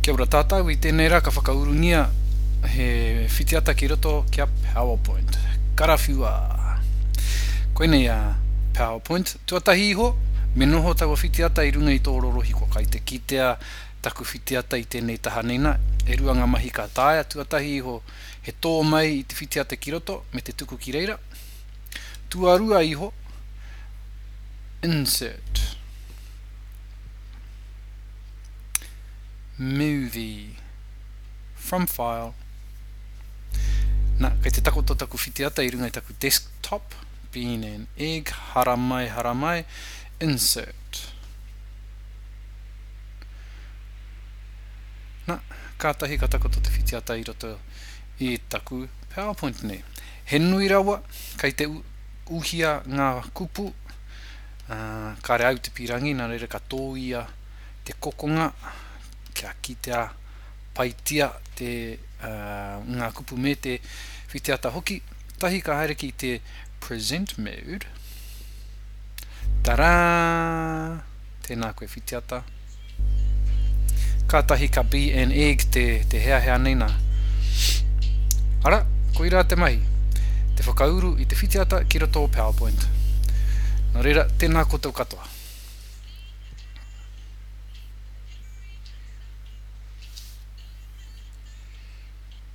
Kia ora tātou, i tēnei rā ka whakaurungia he whitiata ki roto ki a PowerPoint. Karawhiua! Koinei a PowerPoint. Tuatahi iho, me noho taua whitiata i runga i tō rorohiko. Kai te kitea taku whitiata i tēnei taha nei nā. E rua ngā mahi ka taea, tuatahi iho he tō mai i te whitiata ki roto me te tuku ki reira. Tuarua iho, Insert. Movie From File Na, kei te takoto taku whitiata i runga i taku desktop Bean and egg Haramai, haramai Insert Na, kātahi ka takoto te whitiata i roto i taku PowerPoint nei He nui rawa, kei te uhia ngā kupu Ā, kāre au te pīrangī, nā reira ka tōia te kokonga kia kitea paitia te, ā, ngā kupu me te whitiata hoki. Tahi ka haere ki te Present Mode. Tarā! Tēnā koe whitiata. Kātahi ka BNEg te, te heahea nei nā. Ara, koirā te mahi, te whakauru i te whitiata ki roto o PowerPoint. Nō reira, tēnā koutou katoa.